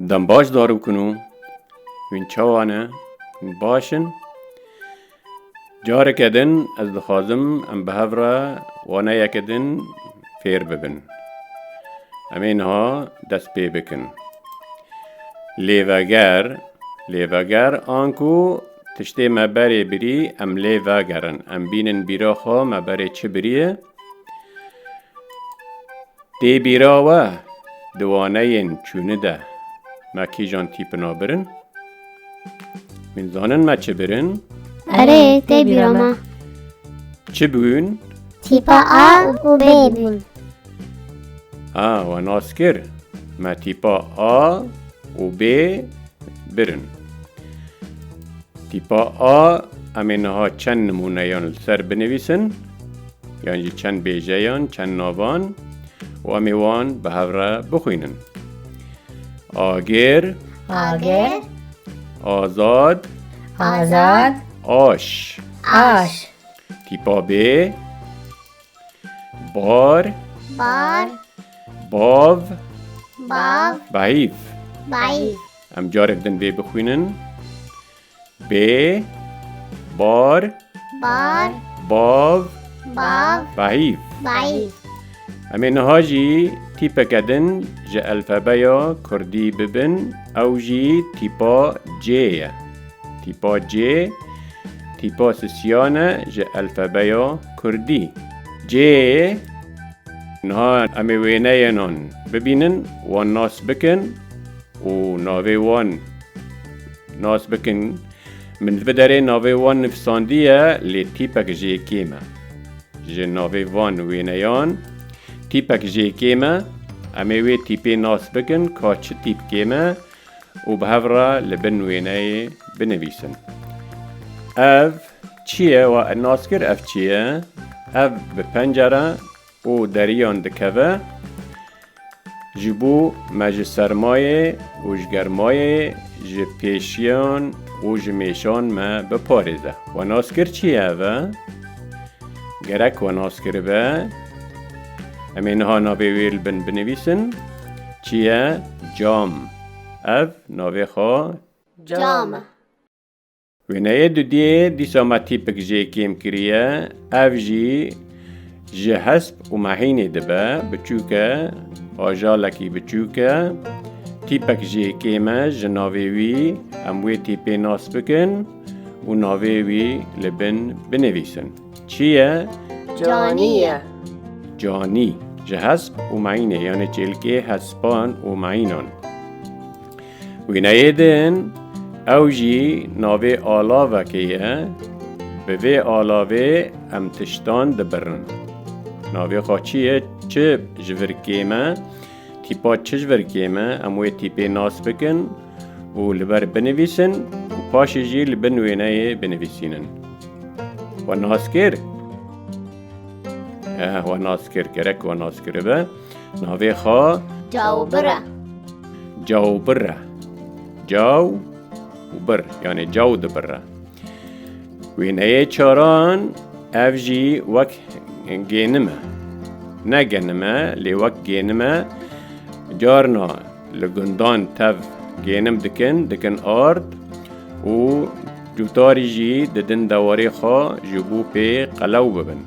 Dem baş dar bikin û hûn çawa ne baş in. Careke din ez dixwazim em bi hev re wana yeke din fêr bibin. Em ê niha dest pê bikin. Lêveger, lêveger an ku tiştê me berê birî em lê vegerin. Em bînin bîra xwe me berê çi birî ye. Tê bîra we di waneyên çûni de me kîjan tîpina birin? Hûn zanin me çi birin? Erê tê bîra me. Çi bûn? Tîpa A û B bûn. Ha we nas kir. Me tîpa A û B birin. Tîpa A em ê niha çend nimûneyan li ser binivîsin. Yan jî çend bêjeyan, çend navan û em ê wan bi hev re bixwînin. Agir, Agir, azad, azad, aş, aş, tîpa bê, bar, bar, bav, bav, bahîf. Bahîf. Em carek din vê bixwînin. Bê Bar Bar Bav Bav Bahîv Bahîv Em ê niha jî tîpeke din ji elfebeya Kurdî bibin ew jî tîpa C ye. Tîpa C tîpa sisiyan e ji elfebeya Kurdî. C niha em ê wêneyênan bibînin, wan nas bikin û navê wan Nas bikin, min di vederê navê wan nivîsandiye lê tîpek jê kêm e. Ji navê van wêneyan tîpek jê kêm e. Em ê wê tîpê nas bikin ka çi tîpkê me û bi hev re li bin wêneyê binivîsin. Ev çi ye? Wa nas kir ev çi ye? Ev bi pencere. û deriyan dikeve, ji bo me ji sermayê û ji germayê, ji pêşiyan û ji mêşan me biparêze. Wenaskir çi ye ev e? Gerek wenaskir be. Em ê niha navê wê li bin binivîsin. Çi ye? Cam. Ev navê xwe. Cam e. Wêneyê dudiyê dîsa me tîpik jê kêm kiriye, ev jî ji hesp û mehînê dibe, biçûk e, ajalekî biçûk e, tîpek jê kêm e ji navê wî em wê tîpê nas bikin û navê wî li bin binivîsin. Çi ye? Canî ye. Canî, ji hesp û mehînê yanê çêlkê hespan û mehînan. Wîneyê din ew jî navê alavekê ye, bi vê alavê em tiştan dibirin. Navê xwe çi ye, çi ji vir kêm e, tîpa çi ji vir kêm e, em wê tîpê nas bikin û li ber binivîsin û paşê jî li bin wêneyê binivîsînin. We nas kir? Eeh, we nas kir, gerek we nas kiribe. Navê xwe Cawbira. Cawbira. Caw û bir yanê caw dibira. Wêneyê çaran ev jî wek gênim e. Ne genim e lê wek gênim e. Carna li gundan tev gênim dikin, dikin ard û cûtarî jî didin dewarê xwe ji bo pê qelew bibin.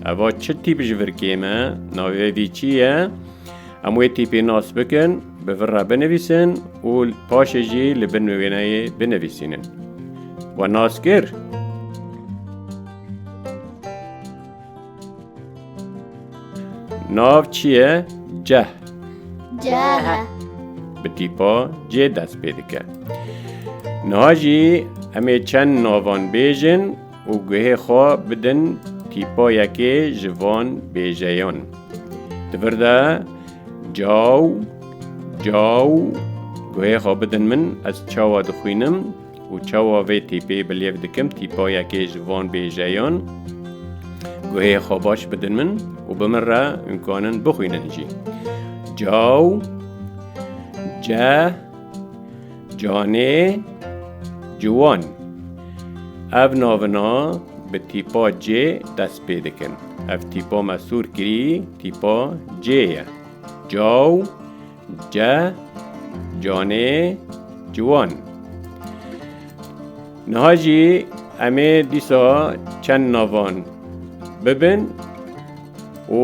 Eva çi tîp ji vir kêm e? Navê vî çi ye? Em wê tîpê nas bikin, bi vir re binivîsin û paşê jî li bin wêneyê binivîsînin. We nas kir? Nav çi ye? Ceh. Ceh. Bi tîpa cê dest pê dike. Niha jî em ê çend navan bêjin û guhê xwe bidin tîpa yekê ji van bêjeyan. Di vir de Caw, caw, guhê xwe bidin min, ez çawa dixwînim û çawa vê tîpê bi lêv dikim tîpa yekê ji van bêjeyan. Guhê xwe baş bidin min û bi min re hûn kanin bixwînin jî. Caw, ce, Canê ciwan Ev navina bi tîpa C dest pê dikin. Ev tîpa me sor kirî tîpa C ye. Caw C Canê ciwan Niha jî em ê dîsa çend navan bibin û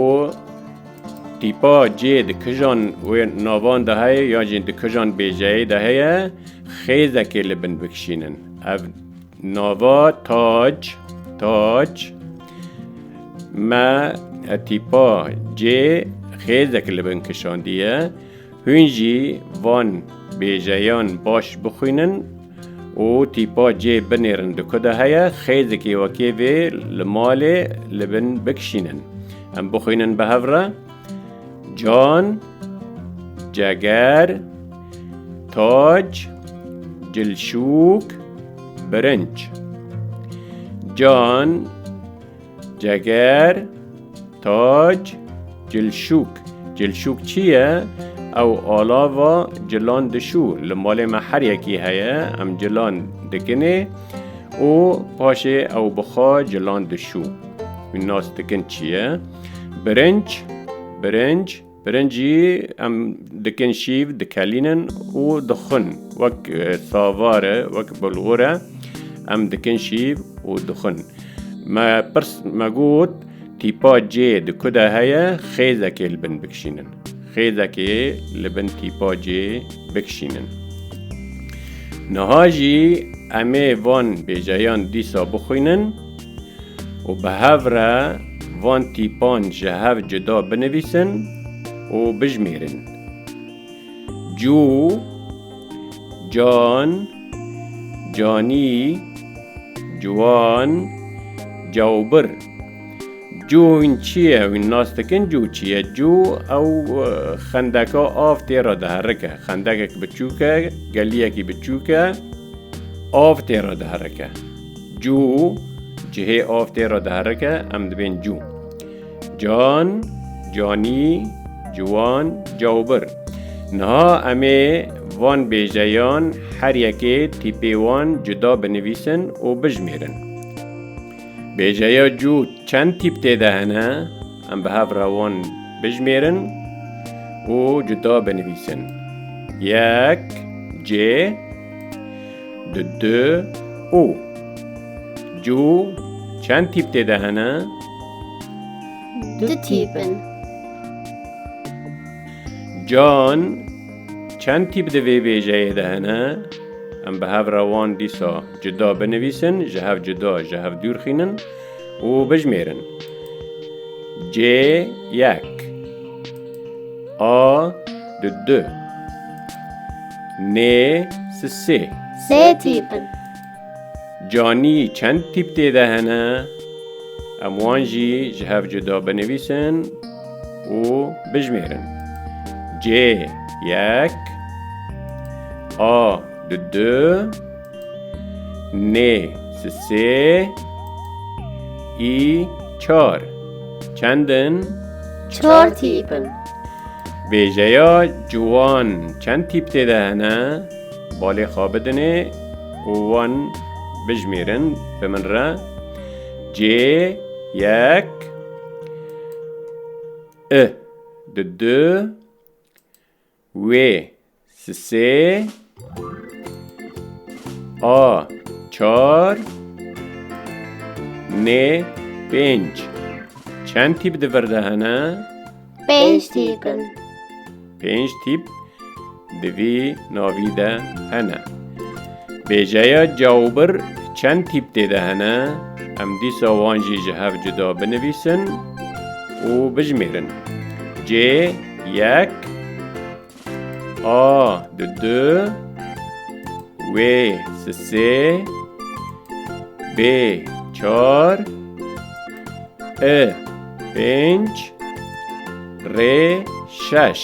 Tîpa cê di kijan wê navan de heye yan jî di kijan bêjeyê de heye xêzekê li bin bikişînin. Ev nava tac tac me tîpa cê xêzek li bin kişandiye. Hûn jî van bêjeyan baş bixwînin. û tîpa cê binêrin di ku de heye xêzikê wekê vê li malê li bin bikişînin. Em bixwînin bi hev re can, ceger, tac, cilşûk, birinc. Can, Ceger, tac, cilşûk. Cilşûk çi ye? Ew alava cilan dişû. Li malê me her yekî heye, em cilan dikinê û paşê ew bixa cilan dişû. Wî nas dikin çi ye? Birinc, birinc. Pirincî em dikin şîv dikelînin û dixwin wek savar e wek bulgur e em dikin şîv û dixwin. Me pirs me got tîpa cê di ku de heye xêzekê li bin bikişînin. Xêzekê li bin tîpa cê bikişînin. Niha jî em ê van bêjeyan dîsa bixwînin. û bi hev re van tîpan ji hev cuda binivîsin û bijmêrin, Cû, Can, Canî, Ciwan, Cawbir. Cû hûn çi ye? Hûn nas dikin cû çi ye? Cû ew xendeka av tê re diherike. Xendekek biçûk e, geliyekî biçûk e, av tê re diherike. Cû, cihê av tê re diherike, em dibên cû. Can, canî, ciwan, cawbir. Niha em ê van bêjeyan her yekê tîpê wan cuda binivîsin û bijimêrin. Bêjeya cû çend tîp tê de hene, em bi hev re wan bijimêrin û cuda binivîsin. Yek, cê. Di di û cû çend tîp tê de hene? Du tîp in. Can çend tîp di vê bêjeyê de hene? Em bi hev re wan dîsa cuda binivîsin, ji hev cuda, ji hev dûr xînin. û bijimêrin. Cê yek A di du Nê si sê Sê tîp in. Canî çend tîp tê de hene? Em wan jî ji hev cuda binivîsin û bijimêrin. Cê yek A di du Nê sisê î çar çend in? Çar tîp in. Bêjeya ciwan çend tîp tê de hene? Balê xwe bidinê û wan bijimêrin bi min re. Cê yek I di du Wê sisê A çar Nê pênc Çend tîp di vir de hene? Pênc tîp in. Pênc tîp di vî navî de hene. Bêjeya cawbir çend tîp tê de hene, em dîsa wan jî ji hev cuda binivîsin û bijimêrin. Cê yek A di du Wê si sê Bê çar I pênc Rê şeş.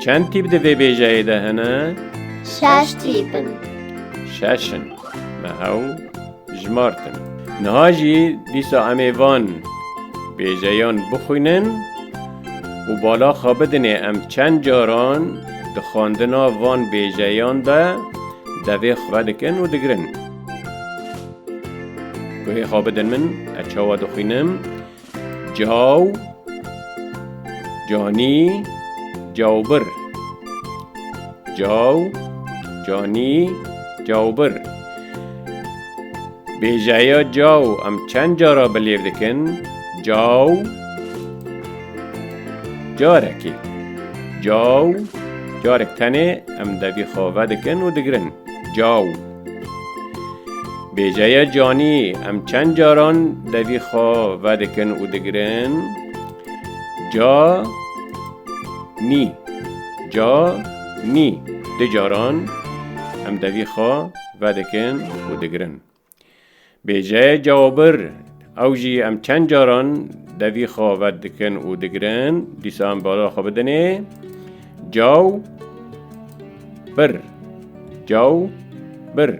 Çend tîp di vê bêjeyê de hene? Şeş tîp in. Şeş in. Me hew jimartin. Niha jî dîsa em ê van bêjeyan bixwînin û bala xwe bidinê em çend caran di xwendina van bêjeyan de devê xwe dikin û digirin. Guhê xwe bidin min, ez çawa dixwînim, Caw, canî, cawbir. Caw, canî, cawbir. Bêjeya caw em çend cara bi lêv dikin? Caw, carekê. Caw, carek tenê em devî xave dikin û digirin. Caw. Bêjeya canî em çend caran devî xwe vedikin û digirin ca nî ca nî du caran em devî xwe vedikin û digirin. Bêjeyê cawabir, ew jî em çend caran devî xwe vet dikin û digirin, dîsa em bala xwe bidinê caw bir, caw bir.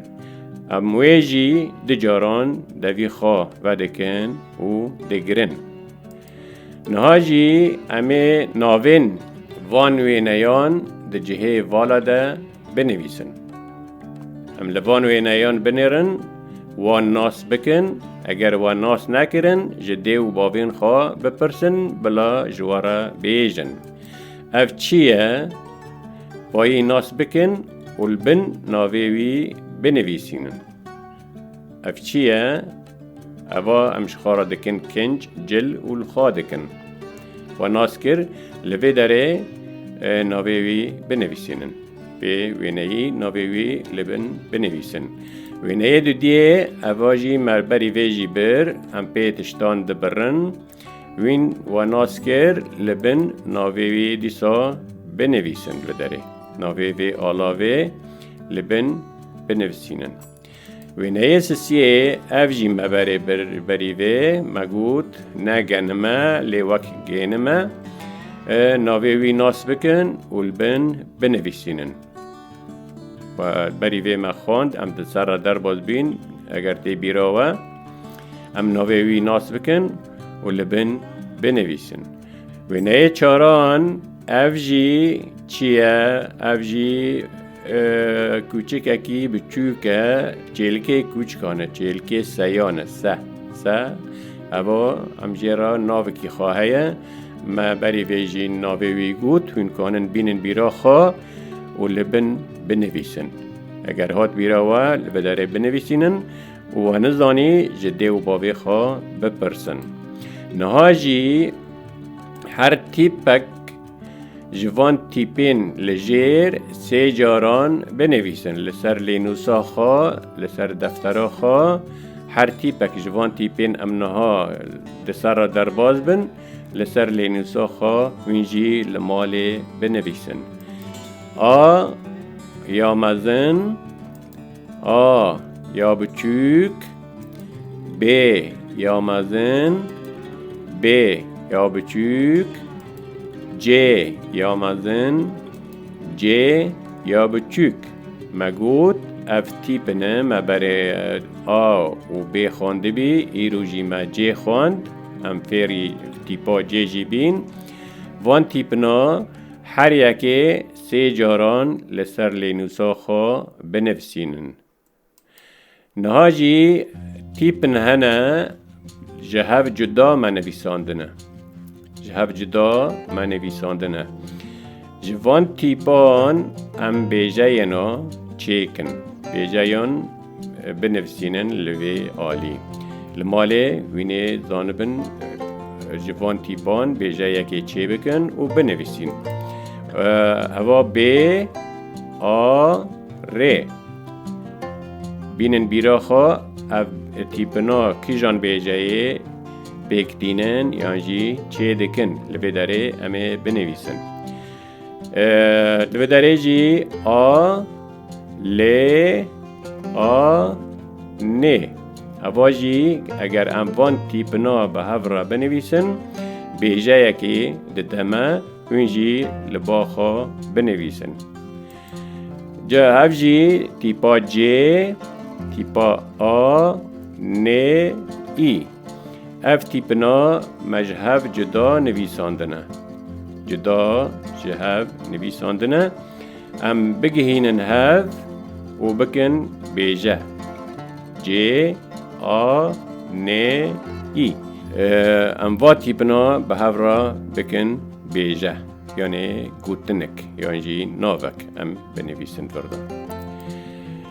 Em wê jî du caran devî xwe vedikin û digirin. Niha jî em ê navên van wêneyan di cihê vala de Binivîsin. Em li van wêneyan binêrin, wan nas bikin, eger wan nas nekirin, ji dê û bavên xwe bipirsin bila ji we re bêjin, Ev çi ye? Bayê nas bikin û li bin navê wî binivîsînin. Ev çi ye? Eva em ji xwe re dikin kinc, cil û li xwe dikin. We nas kir li vê derê navê wî binivîsînin. Pê wêneyî navê wî li bin binivîsin. Wêneyê dudiyê eva jî merberî vê jî bir em pê tiştan dibirin. Wîn we nas kir li bin navê wî dîsa binivîsin li derê. Navê vê alavê li bin binivîsînin. Wêneyê sisiyê ev jî me berê berî vê, me got ne genime lê wek gênime navê wî nas bikin û li bin binivîsînin. Berî vê me xwend em di ser re derbas bîn eger tê bîra we em navê wî nas bikin û li bin binivîsin. Wêneyê çaran ev jî çi ye? Ev jî kûçikekî biçûk e çêlikê kûçikan e çêlikê seyan e se se heva em jê re navikî xwe heye me berî vê jî navê wî got hûn kanin bînin bîra xwe û li bin binivîsin eger hat bîra we li bi derê binivîsînin We nizanî ji dê û bavê xwe bipirsin. Niha jî her tîpek ji van tîpên li jêr sê caran binivîsin li ser lênûsa xwe, li ser deftera xwe. Her tîpek ji van tîpên em niha di ser re derbas bin, li ser lênûsa xwe hûn jî li malê binivîsin. A ya mezin. A ya biçûk B ya mezin B ya biçûk C ya mezin C ya biçûk Me got ev tîp in e me berê A û B xwendibî îro jî me C xwend em fêrî tîpa C jî bîn Van tîpina her yekê Sê caran li ser lênûsa xwe binivîsînin. Niha jî tîpin hene ji hev cuda me nivîsandine. Ji hev cuda me nivîsandine. Ji van tîpan em bêjeyên çêkin. Bêjeyan Binivîsînin li vê alî. Li malê wînê zanibin ji van tîpan bêjeyekê çêbikin û binivîsîn. Heva bê a rê. Bînin bîra xwe ev tîpina kîjan bêjeyê pêk tînin yan jî çê dikin li vê derê em ê binivîsin. Di vê derê jî a lê a nê heva jî eger em van tîpina bi hev re binivîsin bêjeyekê dide me hûn jî li ba xwe binivîsin. Ca hev jî tîpa cê tîpa a nê î. Ev tîpina me ji hev cuda nivîsandine. Cuda ji hev nivîsandine. Em bigihînin hev û bikin bêje. Cê, a, nê, î. Em va tîpina bi hev re bikin bêje, yanê gotinik yan jî navek em binivîsin vir de.